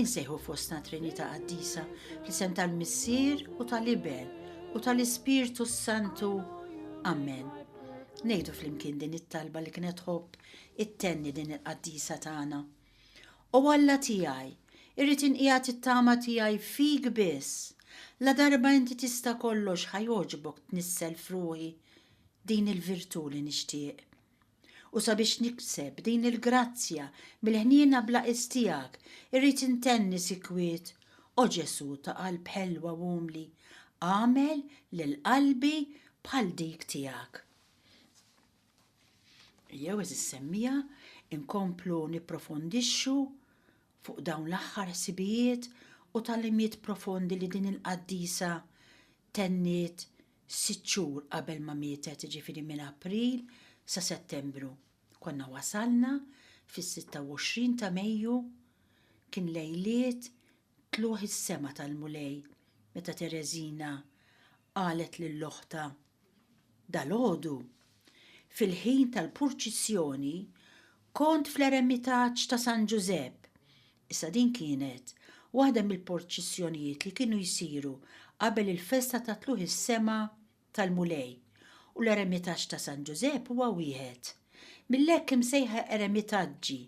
Insejħu fostna Trinità Qaddisa fl-isem tal-Missier u tal-Iben u tal-Ispirtu s-Santu. Amen. Nejdu flimkien din it-talba li kienet ħobb it-tenni din il-qaddisa tagħna. O Alla tiegħi, irrid inqiegħed it-tama tiegħi fik biss. La darba inti tista' kollox ħajoġbok tnissel fruħi din il-virtu li nixtieq. U sabiex nikseb din il-grazzja mill-ħniena bla qies tiegħek, irrid intenni sikwit, O Ġesù ta' qalb ħelwa u umli, agħmel lil qalbi bħal dik tiegħek. Ejjew eżis semmija inkomplu nipprofondixxu fuq dawn l-aħħar ħsibijiet u tal-imiet profondi li din il-qaddisa tenniet sitt xhur qabel ma mietet jiġifieri minn April sa Settembru. Konna wasalna fis-26 ta' Mejju kien lejliet tlugħ is-sema tal-Mulej meta Tereżina qalet lil oħtha dalgħodu fil-ħin tal-purċissjoni kont fl-eremitaġġ ta' San Ġużepp Issa din kienet waħda mill-porċissjonijiet li kienu jsiru qabel il-festa ta' Tlugħ is-Sema tal-Mulej, u l-eremitaġġ ta' San Ġużepp huwa wieħed mill-hekk imsejħa eremitaġġi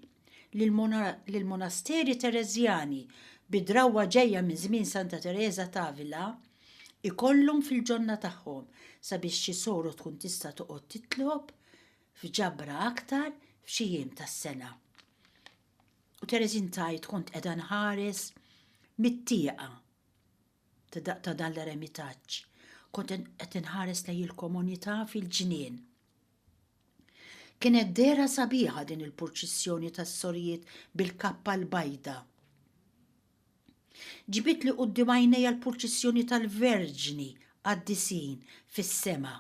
li l-monasteri Tereżjani, bi drawwa ġejja minn żmien Santa Tereża t'Avila, ikollhom fil-ġonna tagħhom sabiex xi soro tkun tista' toqgħod titlob f'ġabra aktar f'xi jiem tas-sena. U Teresin tajt kont qiegħda nħares mit-tieqa ta' dan l-eremitaġġ. Kont qed inħares lej il-komunità fil-ġnien. Kienet dera sabiħa din il-purċissjoni tas-sorijiet bil-kappa l-bajda. Ġbit li qudiem għajnejja l-purċissjoni tal-verġni għad-disin fis-sema.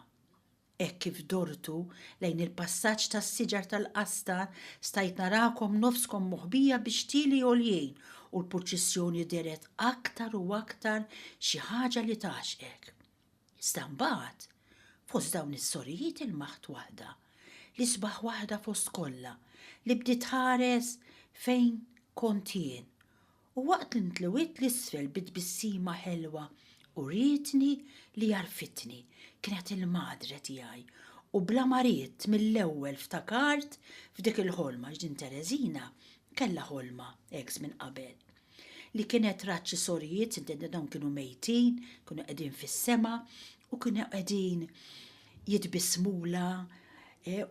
Hekk kif dortu lejn il-passaġġ tas-siġar tal-qasda, stajt narakom nofskom moħbija bi xtieli għoljin u l-purċissjoni dehret aktar u aktar xi ħaġa li tgħaxqek. Iżda mbagħad, fost dawn is-sorijiet ilmaħt waħda, l-isbaħ waħda fost kollha, li bdiet tħares fejn kont jien u waqt li ntlewiet 'l isfel bi tbissima ħelwa urietni li għarfitni, kienet il-madre tiegħi u bla ma ridt mill-ewwel ftakart f'dik il-ħolma għax din Tereżina kellha ħolma hekk żmien qabel li kienet rat xi sorijiet intendet dawn kienu mejtin kienu qegħdin fis-sema u kienu qegħdin jitbissmulha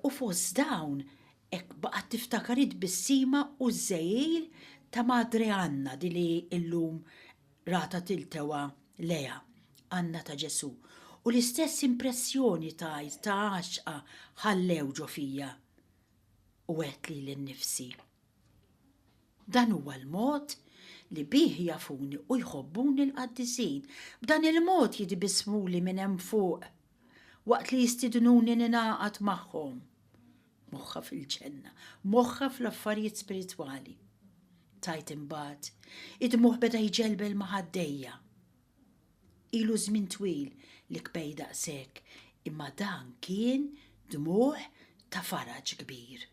u fost dawn Hekk baqgħet tiftakar it-tbissima u ż-żegħil ta' Madre Anna di li llum ratha tiltewha lejha, Anna ta' Ġesù, u l-istess impressjoni tgħid ta' għaxqa ħallew ġo fija. U għedt lili nnifsi, Dan huwa l-mod li bih jafuni u jħobbuni l-qaddisin, b'dan il-mod jitbissmuli minn hemm fuq. Waqt li jistiednuni ningħaqad magħhom. Moħħha fil-ġenna. Moħħha fl-affarijiet spiritwali. Tajt imbagħad. Id-dmugħ beda jġelbel ma' ħaddejja. Ilu żmien twil li kbej daqshekk, imma dan kien dmugħ ta' faraġ kbir.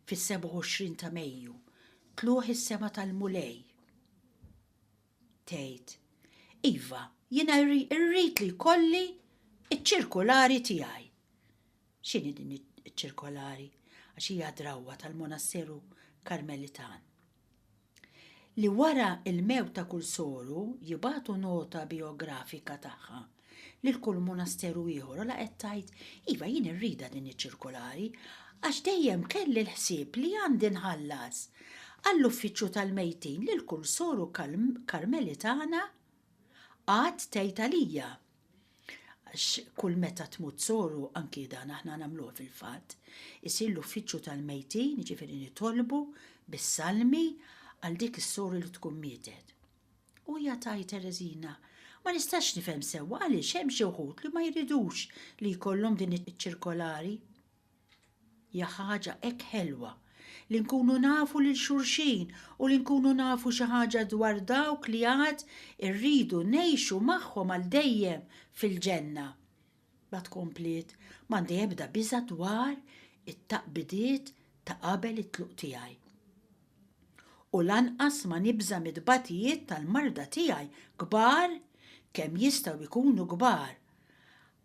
Fis-27 ta' Mejju, tlugħ is-sema tal-Mulej. Tgħid, Iva, jiena rrid li jkolli ċ-ċirkolari tiegħi. X'inhi din iċ-ċirkolari? Għax hija drawwa tal-monasseru Karmelitan. Li wara il-mewt ta' kull soru jibatu nota biografika tagħha lil kull munasteru ieħor ola qed tgħid, iva jien irridha din iċ-ċirkolari għax dejjem kelli l-ħsieb li għandi nħallas għall-uffiċċju tal-mejtin lil kull soru Karmelitana għad tgħid għalija għax kull meta tmut soru anki dan aħna nagħmluh fil-fatt isir l-uffiċċju tal-mejtin jiġifieri nitolbu bis-salmi għal dik is-soru li tkun mietet. U hija tgħid Tereżina, Ma nistax nifhem sewwa għaliex hemm xi wħud li ma jridux li jkollhom din iċ-ċirkolari. Hija ħaġa hekk ħelwa li nkunu nafu lil xulxin u li nkunu nafu xi ħaġa dwar dawk li għad irridu ngħixu magħhom għal dejjem fil-ġenna. Mbagħad kompliet, M'għandi ebda biża' dwar it-taqbidiet ta' qabel it-tluq tiegħi. U lanqas ma nibża' mit-tbatijiet tal-marda tiegħi kbar kemm jistgħu jkunu kbar,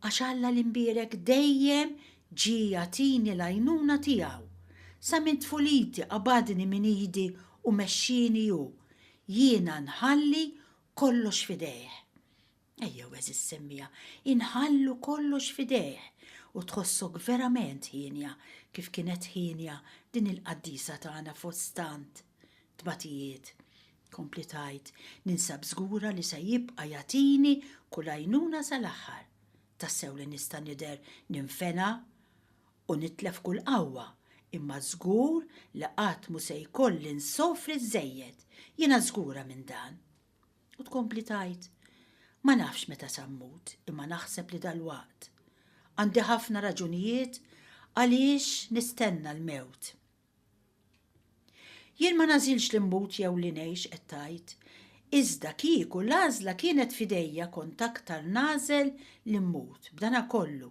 għax Alla l-Imbierek dejjem ġie jagħtini l-għajnuna tiegħu. Sa minn tfuliti qabadni minn idi u mexxieni hu, jiena nħalli kollox f'idejh. Ejjew għeżiż semmija, inħallu kollox f'idejh u tħossok verament hienja kif kienet hienja din il-qaddisa tagħna fost tant tbatijiet. Kompli tgħid, Ninsab żgura li se jibqa' jagħtini kull għajnuna sal-aħħar. Tassew li nista' nidher ninfena u nitlef kull qawwa, imma żgur li qatt mhu se jkolli nsofri żżejjed. Jiena żgura minn dan. U tkompli tgħid, Ma nafx meta se mmut imma naħseb li dalwaqt. Għandi ħafna raġunijiet għaliex nistenna l-mewt. Jien ma nażilx li mmut jew li ngħix qed tgħid, iżda kieku l-għażla kienet f'idejja kont aktar nagħżel li mmut. B'dana kollu,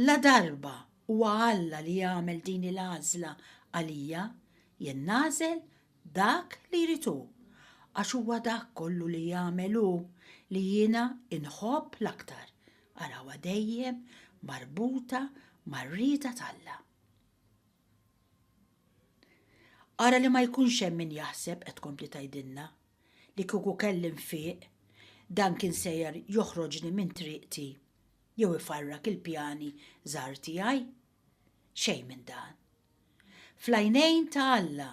la darba huwa Alla li jagħmel din il-għażla għalija, jien nagħżel dak li jrid hu, għax huwa dak kollu li jagħmel hu li jiena inħobb l-aktar, arawha dejjem marbuta mar-rieda t'Alla. Ara li ma jkunx hemm min jaħseb, qed tkompli tgħidilna, li kieku kelli nfiq, dan kien sejjer joħroġni minn triqti jew ifarrak il-pjani żgħar tiegħi. Xejn minn dan. Fl-għajnejn ta' Alla,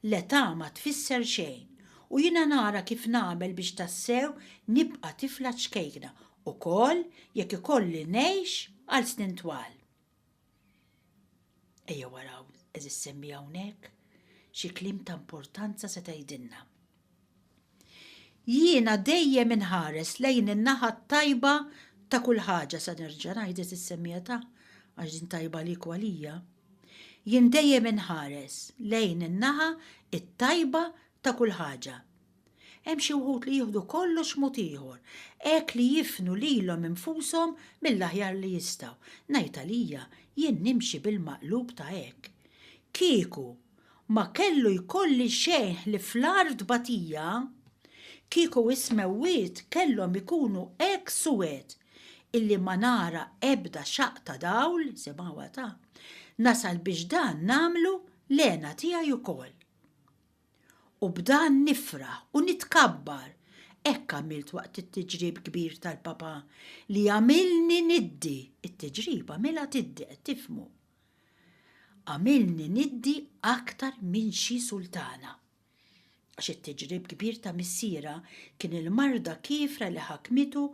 l-età ma tfisser xejn u jiena nara kif nagħmel biex tassew nibqa' tifla ċkejkna ukoll jekk ikolli ngħix għal snin twal. Ejjew araw, għeżiż semmie hawnhekk xi kliem ta' importanza se tgħidilna. Jiena dejjem inħares lejn in-naħa t-tajba ta' kull ħaġa se nerġa' ngħidlek is-semmiegħa ta' għax din tajba għalik u għalija. Jien dejjem inħares lejn in-naħa t-tajba ta' kull ħaġa. Hemm xi wħud li jieħdu kollox mod ieħor, hekk li jifnu lilhom infushom mill-aħjar li jistgħu. Ngħid għalija, jien nimxi bil-maqlub ta' hekk. Kieku Ma kellu jkolli xejn ħlief l-agħar tbatija. Kieku is-smewwiet kellhom ikunu hekk suwed illi ma nara ebda xaqq ta' dawl, semgħuha ta', nasal biex dan nagħmlu l-hena tiegħi ukoll. U b'dan nifraħ u nitkabbar, hekk għamilt waqt it-tiġrib kbir tal-Papa li għamilni niddi, it-tiġrib għamilha tiddi, qed tifhmu. Għamilni niddi aktar minn xi sultana. Għax it-tiġrib kbir ta' missierha kien il-marda kiefra li ħakmitu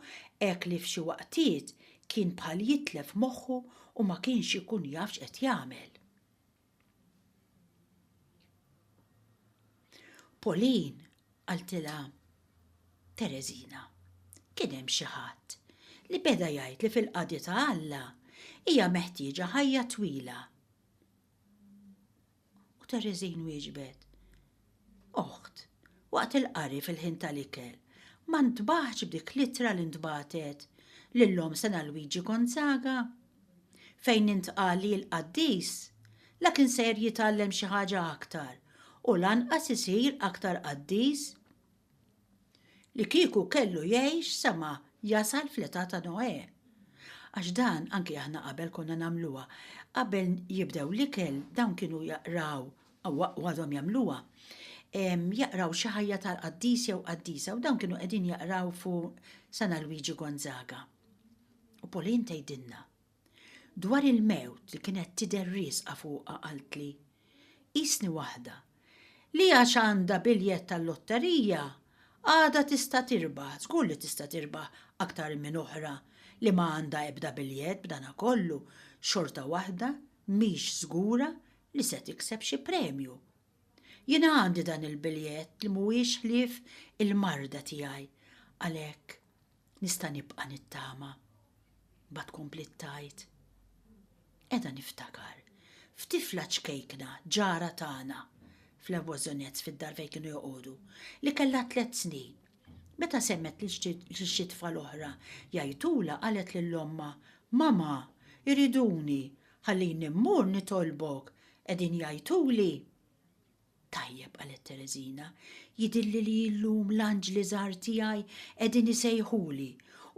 hekk li f'xi waqtiet kien bħal jitlef moħħu u ma kienx ikun jaf x'qed jagħmel. Pauline, qaltilha Tereżina, kien hemm xi ħadd li beda jgħid li fil-qadi ta' Alla hija meħtieġa ħajja twila. U Tereżin wieġbet, Oħt, waqt il-qari fil-ħin tal-ikel, ma ntbaħtx b'dik l-ittra li ntbagħtet lil omm Sena Luigi Gonzaga? fejn intqal li l-qaddis la kien ser jitgħallem xi ħaġa aktar u lanqas isir aktar qaddis li kieku kellu jgħix sa ma jasal fl-età ta' Noè. Għax dan anki aħna qabel konna nagħmluha. Qabel jibdew l-ikel dawn kienu jaqraw u għadhom jagħmluha jaqraw xi ħajja tal-qaddis jew qaddisa u dawn kienu qegħdin jaqraw fuq San Alwiġi Gonzaga. U Pauline tgħidilna, Dwar il-mewt li kienet tidher riesqa fuqha qaltli, Qisni waħda li għax għandha biljett tal-lotterija għadha tista' tirbaħ, żgur li tista' tirbaħ aktar minn oħra li ma għandha ebda biljett b'danakollu xorta waħda mhix żgura li se tikseb xi premju. Jiena għandi dan il-biljett li mhuwiex ħlief il-marda tiegħi, għalhekk nista' nibqa' nittama. Mbagħad kompliet tgħid, Qiegħda niftakar f'tifla ċkejkna ġara tagħna fl-Evoisonettes fid-dar fejn kienu joqogħdu, li kellha tliet snin. Meta semgħet lil xi tfal oħra jgħajtulha qalet lil ommha, Mama, iriduni, Ħallini mmur nitolbok, qegħdin jgħajtuli. Tajjeb, qalet Tereżina, jidhirli li illum l-anġli żgħar tiegħi qegħdin isejħuli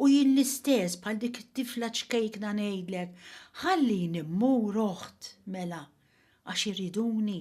u jien l-istess bħal dik it-tifla ċkejkna ngħidlek, ħallini mmur oħt, mela, għax iriduni.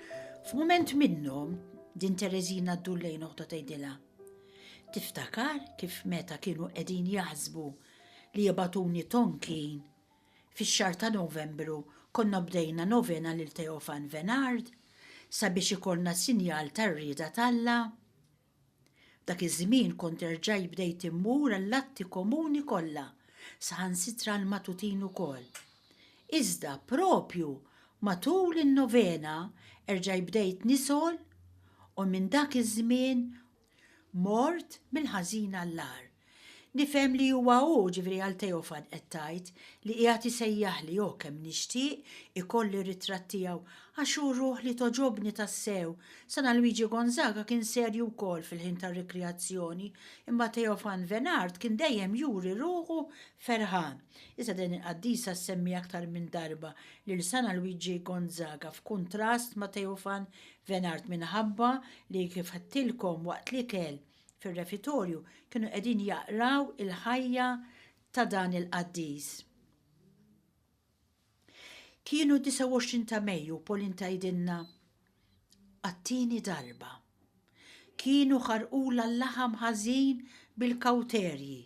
F'mument minnhom, din Tereżina ddur lejn oħta tgħidilha, Tiftakar kif meta kienu qegħdin jaħsbu li jibgħatuni Tonkin, fix-xahar ta' Novembru konna bdejna novena lil Teofan Venard sabiex ikollna sinjal tar-rieda t'Alla? F'dak iż-żmien kont erġajt bdejt immur għall-atti komuni kollha, saħansitra għall-matutin ukoll. Iżda proprju matul in-novena erġajt bdejt nisgħol u minn dak iż-żmien mort mill-ħażin għall-agħar. Nifhem li huwa hu, ġifieri għal Teofan qed tgħid, li qiegħed isejjaħli, oh kemm nixtieq ikolli r-ritratt tiegħu għax hu ruħ li togħġobni tassew. Sena Luigi Gonzaga kien serju wkoll fil-ħin tar-rikrijazzjoni, imma Teofan Venard kien dejjem juri ruħu ferħan. Iżda din il-qaddisa ssemmi aktar minn darba lil Sena Luigi Gonzaga f'kuntrast ma' Teofan Venard minħabba li kif għedtilkom waqt l-ikel, fir-refitorju kienu qegħdin jaqraw il-ħajja ta' dan il-qaddis. Kienu 29 ta' Mejju Polin tajdinna għattini darba. Kienu ħarqula l-laħam ħażin bil-kawterji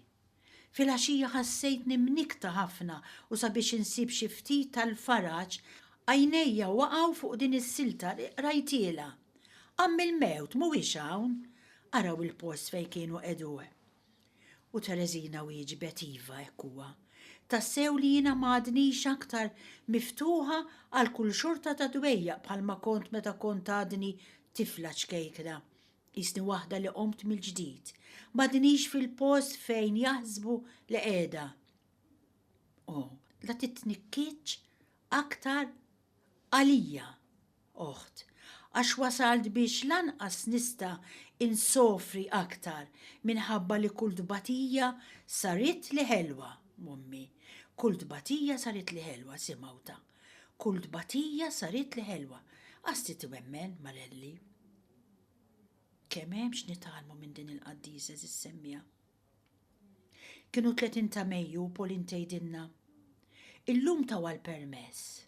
Filgħaxija ħassejtni mnikkta ħafna u sabiex insib xi ftit tal-faraġ, għajnejja waqgħu fuq din is-silta li qrajtilha, Għamm il-mewt mhuwiex hawn? Araw il-post fejn kienu qegħduh. U Tereżina wieġbet iva hekk huwa. Tassew li jiena m'għadnix aktar miftuħa għal kull xorta ta' dwejjaq bħalma kont meta kont għadni tifla ċkejkna. Qisni waħda li qomt mill-ġdid. M'għadnix fil-post fejn jaħsbu li qiegħda. O, la titnikkiċ aktar għalija, oħt, għax wasalt biex lanqas nista' insofri aktar minħabba li kull tbatija saritli ħelwa, ommi, kull tbatija saritli ħelwa, si Mawta, kull tbatija saritli ħelwa. Qasti twemmen, Marelli. Kemm hemm x'nitgħallmu minn din il-qaddisa żis-semmija. Kienu 30 ta' Mejju u Pauline tgħidilna, Illum tawha l-permess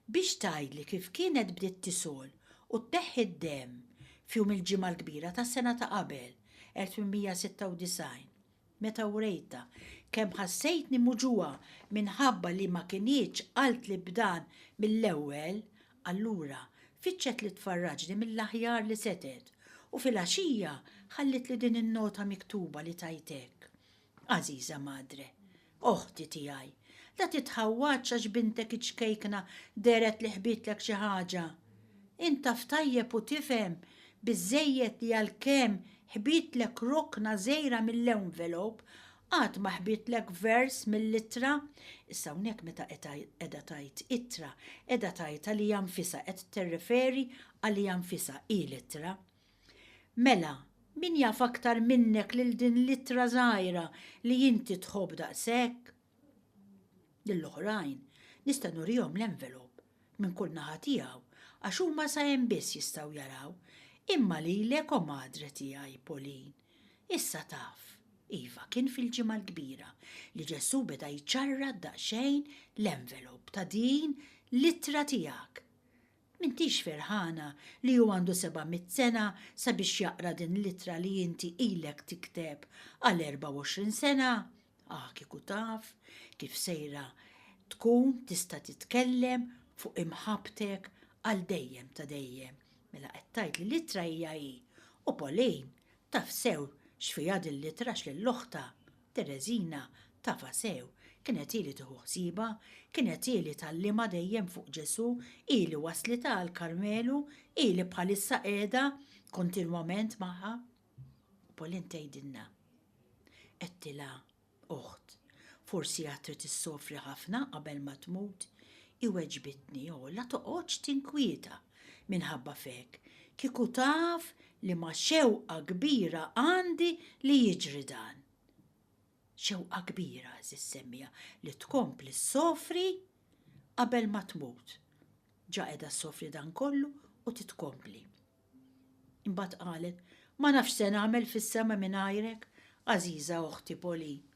biex tgħidli kif kienet bdiet tisgħol u tneħħi d-demm f'jum il-Ġimgħa l-Kbira tas-sena ta' qabel, 1896. Meta wrejtha kemm ħassejtni muġugħa minħabba li ma kinitx qaltli b'dan mill-ewwel, allura fittxet li tfarraġni mill-aħjar li setgħet, u filgħaxija ħallitli din in-nota miktuba li tgħid hekk, Għażiża Madre, Oħti tiegħi, la titħawwadx għax bintek iċ-ċkejkna dehret li ħbitlek xi ħaġa. Int taf tajjeb u tifhem biżżejjed li għalkemm ħbitlek rokna żgħira mill-envelop, għad ma ħbitlek vers mill-ittra. Issa hawnhekk meta qiegħda tgħid ittra, qiegħda tgħid għaliha nfisha, qed tirreferi għaliha nfisha, hi l-ittra. Mela, min jaf aktar minnek lil din l-ittra żgħira li inti tħobb daqshekk? Lill-oħrajn, nista' nurihom l-envelop minn kull naħa tiegħu għax huma sa hemm biss jistgħu jaraw, imma lilek o madre tiegħi, Pauline, issa taf. Iva, kien fil-Ġimgħa l-Kbira li Ġesù beda jċarrat daqsxejn l-envelop ta' din l-ittra tiegħek. M'intix ferħana li hu għandu seba' mitt sena sabiex jaqra din l-ittra li inti ilek tikteb għal erbgħa u għoxrin sena? Ah, kieku taf kif sejra tkun tista' titkellem fuq imħabbtek għal dejjem ta' dejjem. Mela qed tgħid li l-ittra hija hi. U Pauline taf sew x'fiha din l-ittra għax lil oħtha Tereżina, tafha sew, kienet hi li tieħu ħsiebha, kienet hi li tgħallimha dejjem fuq Ġesù, hi li wasslitha għall-Karmelu, hi li bħalissa qiegħda kontinwament magħha. U Pauline tgħidilna, Għedtilha, Oħt, forsi għad trid issofri ħafna qabel ma tmut. Hi weġbitni, O, la toqgħodx tinkwieta minħabba f'hekk, kieku taf Liema xewqa kbira għandi li jiġri dan! Xewqa kbira, għażiż semmiegħa, li tkompli ssofri qabel ma tmut. Ġa qiegħda ssofri dan kollu u titkompli. Imbagħad qalet, Ma nafx se nagħmel fis-sema mingħajrek, għażiża oħti Pauline.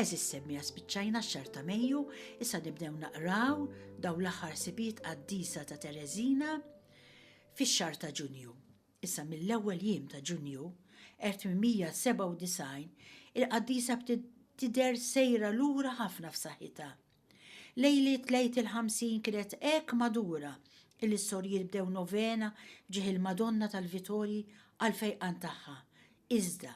Eżis semmiha spiċċajna x-xahar ta' Mejju, issa nibdew naqraw daw l-aħħar sibiet qaddisa ta' Tereżina fix-xahar ta' Ġunju. Issa mill-ewwel jiem ta' Ġunju 1897 il-qaddisa bdiet tidher sejra lura ħafna f'saħħitha. Lejliet l-Għid il-Ħamsin kienet hekk madura illi s-sorijiet bdew novena f'ġieħ il-Madonna tal-Vitorji għall-fejqan tagħha. Iżda,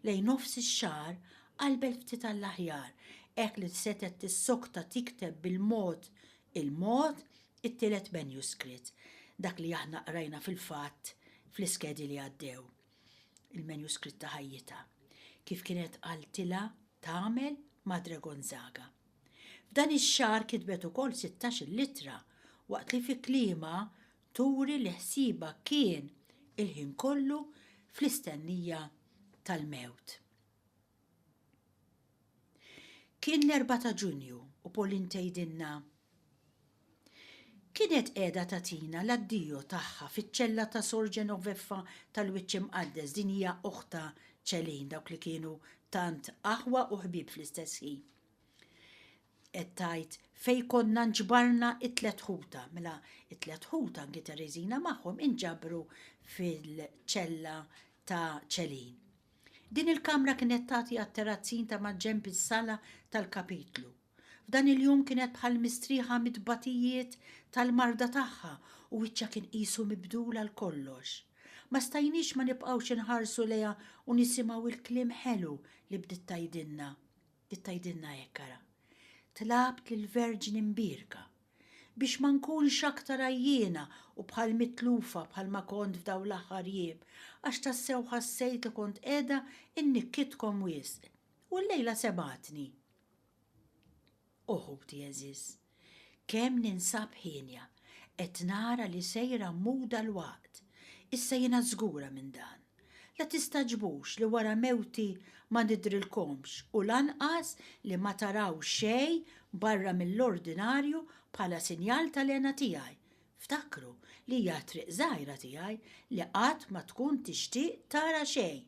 lejn nofs ix-xahar, qalbet ftit għall-aħjar hekk li setgħet tissokta tikteb bil-mod il-mod it-tielet manuscrit, dak li aħna qrajna fil-fatt fl-iskedi li għaddew, il-manuscrit ta' ħajjitha, kif kienet qaltilha tagħmel Madre Gonzaga. F'dan ix-xahar kitbet ukoll sittax-il ittra waqt li fi kliemha turi li ħsiebha kien il-ħin kollu fl-istennija tal-mewt. Kien l-Erbgħa ta' Ġunju u Pauline tgħidilna, Kienet qiegħda tagħtina l-addio tagħha fiċ-ċella ta' Sor Genoveffa tal-Wiċċ Imqaddes, din hija oħtha Celine, dawk li kienu tant aħwa u ħbieb fl-istess ħin. Qed tgħid fejn konna nġbarna t-tliet ħutha, mela t-tliet ħutha anki Tereżina magħhom inġabru fil-ċella ta' Celine. Din il-kamra kienet tagħti għat-terazzin ta' maġġenb is-sala tal-kapitlu. F'dan il-jum kienet bħal mistrieħa mit-tbatijiet tal-marda tagħha u wiċċha kien qisu mibdul għal kollox. Ma stajniex ma nibqgħux inħarsu lejha u nisimgħu l-kliem ħelu li bdiet tgħidilna. Bdiet tgħidilna hekk ara. Tlabt lill-Verġni Mbierka biex ma nkunx aktar għajjiena u bħal mitlufa bħal ma kont f'daw l-aħħar jiem, għax tassew ħassejt li kont qiegħda nnikkitkom wisq. U llejla semgħatni. O ħuti għeżież, kemm ninsab hienja, qed nara li sejra mmuda l-waqt. Issa jiena żgura minn dan. La tistagħġbux li wara mewti ma nidhrilkomx u lanqas li ma taraw xejn barra mill-ordinarju bħala sinjal tal-hena tiegħi. Ftakru li hija t-triq żgħira tiegħi li qatt ma tkun tixtieq tara xejn.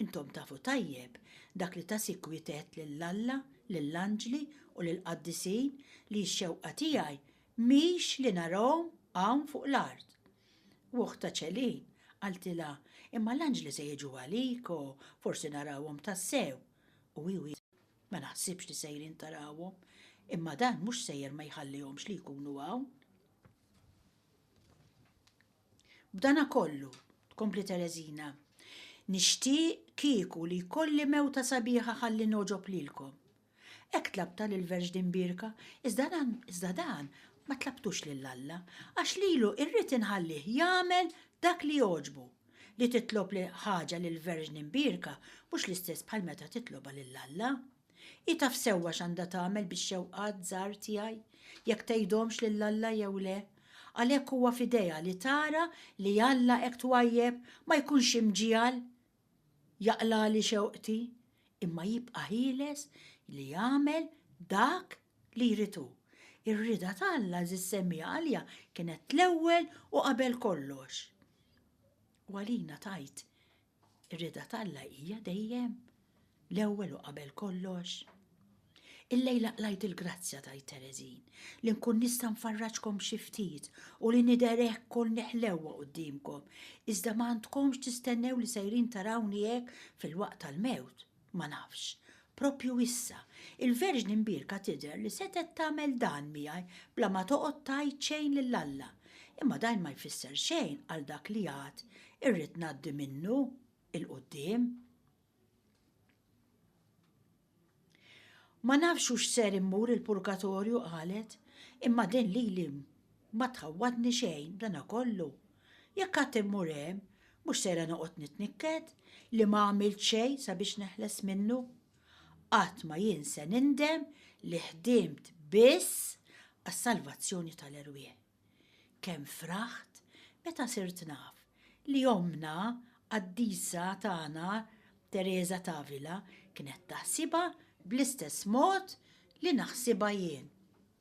Intom tafu tajjeb dak li ta' sikwit għedt lil Alla, lill-anġli u lill-qaddisin li x-xewqa tiegħi mhix li narahom hawn fuq l-art. U ukhtha Ċelin qaltilha, Imma l-anġli se jiġu għalik u forsi narawhom tassew. U hi wieġbet, Ma naħsibx li sejrin tarawhom, imma dan mhux sejjer ma jħallihomx li jkunu hawn. B'dana kollu, tkompli Tereżina, nixtieq kieku li jkolli mewta sabiħa ħalli ngħoġob lilkom. Hekk tlabtha lill-Verġni Mbierka, iżda dan, iżda dan ma tlabtux lil Alla, għax lilu irrid inħallih jagħmel dak li jogħġbu. Li titlob li ħaġa lill-Verġni Mbierka mhux l-istess bħal meta titlobha lil Alla. Hi taf sewwa x'għandha tagħmel bix-xewqat żgħar tiegħi, jekk tgħidhomx lil Alla jew le. Għalhekk huwa f'idejha li tara li Alla hekk twajjeb ma jkunx imġiegħel jaqlagħli xewqti, imma jibqa' ħieles li jagħmel dak li jrid hu. Ir-rieda ta' Alla, għażiż Semija, għalija kienet l-ewwel u qabel kollox. U għalina tgħid Ir-rieda t'Alla hija dejjem l-ewwel u qabel kollox. Illejla qlajt il-grazzja tgħid Tereżin li nkun nista' nfarraġkom xi ftit u li nidher hekk kol neħlewwa quddiemkom, iżda ma għandkomx tistennew li sejrin tarawni hekk fil-waqt tal-mewt. Ma nafx. Proprju issa, il-Verġni Mbierka tidher li setgħet tagħmel dan miegħi bla ma toqgħod tgħid xejn lil Alla. Imma dajn ma jfisser xejn għal dak li għad irrid ngħaddi minnu 'il quddiem. Ma nafx hux ser immur il-purgatorju qalet, imma din lili Ma tħawwadni xejn b'dana kollu. Jekk għad immur hemm, mhux sejra noqgħod nitnikket li ma għamilt xejn sabiex neħles minnu. Qatt ma jien se nindem li ħdimt biss għas-salvazzjoni tal-erwieħ. Kemm fraħt meta sirt naf li ommna qaddisa tagħna Teresa t'Avila kienet taħsibha bl-istess mod li naħsibha jien.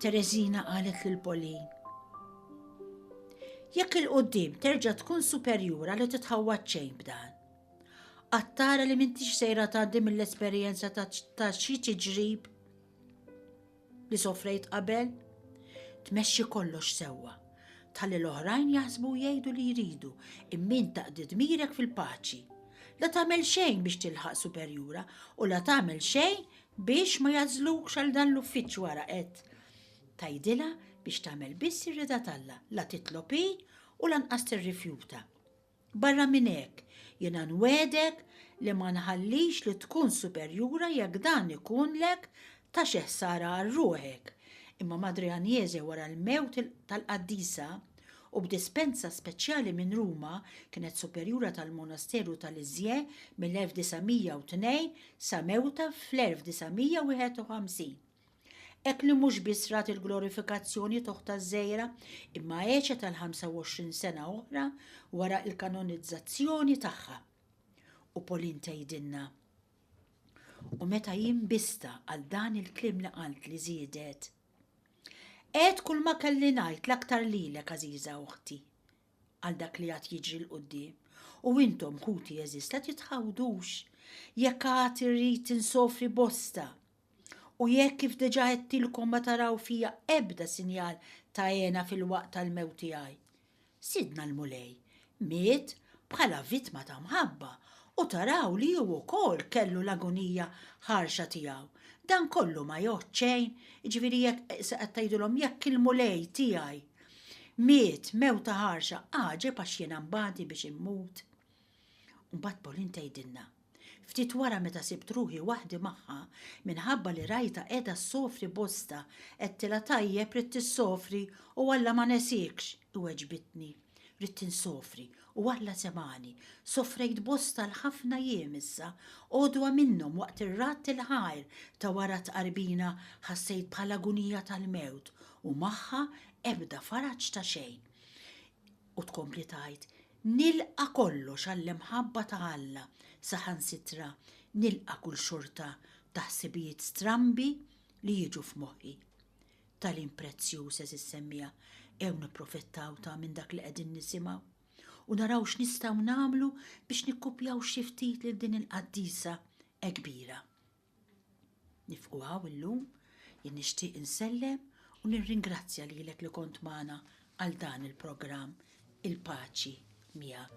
Terezina qalet lil Polin. Jekk il-qoddim terġa' tkun superjura li titħawwad xejn b'dan. Qattara li m'intix sejra tgħaddi mill-esperjenza ta' xi tiġrib. li sofrejt qabel? Tmexxi kollox sewwa. Tħalli l-oħrajn jaħsbu u jgħidu li jridu, imma int taqdi dmirek fil-paċi. La tagħmel xejn biex tilħaq superjura u la tagħmel xejn biex ma jagħżlukx għal dan l-uffiċċju ara qed. Tgħidilha biex tagħmel biss ir-rida t'Alla, la titlob hi u lanqas tirrifjuta. Barra minn hekk, jiena nwegħdek li ma nħallix li tkun superjura jekk dan ikunlek ta' xi ħsara għal ruħek, imma Madre Agnese wara l-mewt tal-Qaddisa, u b'dispensa speċjali minn Ruma, kienet superjura tal-monasteru ta' Lisieux mill-1902 sa mewtha fl-1951. Hekk li mhux biss rat il-glorifikazzjoni togħ taż-żejra, imma għexet għal 25 sena oħra wara l-kanonizzazzjoni tagħha. U Pauline tgħidilna, U meta jien bista għal dan il-kliem li qalt li żiedet, Għed kull ma kelli ngħid l-aktar lilek għażiża uħti għal dak li għad jiġri l-qudiem u intom ħuti eżista titħawdux jekk għad irrid insofri bosta U jekk kif diġà għedtilkom ma taraw fija ebda sinjal ta' għena fil-waqt tal-mewt tiegħi. Sidna l-Mulej miet bħala vittma ta' mħabba u taraw li hu wkoll kellu l-agonija ħarxa tiegħu. Dan kollu ma jgħodd xejn, jiġifieri jekk qed tgħidulhom jekk il-Mulej tiegħi miet mewta ħarxa għaġeb għax jiena mbagħdi biex immut. Mbagħad Pauline tgħidilna. Ftit wara meta sibt ruħi waħdi magħha, minħabba li rajtha qiegħda ssofri bosta, għedtilha tajjeb ridt issofri u Alla ma nesiekx, iweġbitni. Ridt insofri u Alla semgħani. Sofrejt bosta għal ħafna jiem issa, għodwa minnhom waqt ir-radd il-ħajr ta' wara t-tqarbina ħassejt bħal agunija tal-mewt u magħha ebda faraġ ta' xejn. U tkompli tgħid, Nilqa' kollox għall-imħabba ta' Alla, saħansitra nilqa' kull xorta ta' ħsibijiet strambi li jiġu f'moħħi. Tagħlim prezzjuż, għeżież semmiegħa, għew nipprofettaw ta' minn dak li qegħdin nisimgħu u naraw x'nistgħu nagħmlu biex nikkupjaw xi ftit lil din il-qaddisa hekk kbira. Nifqu hawn illum, jien nixtieq insellem u nirringrazzja lilek li kont magħna għal dan il-programm Il-Paċi Miegħek.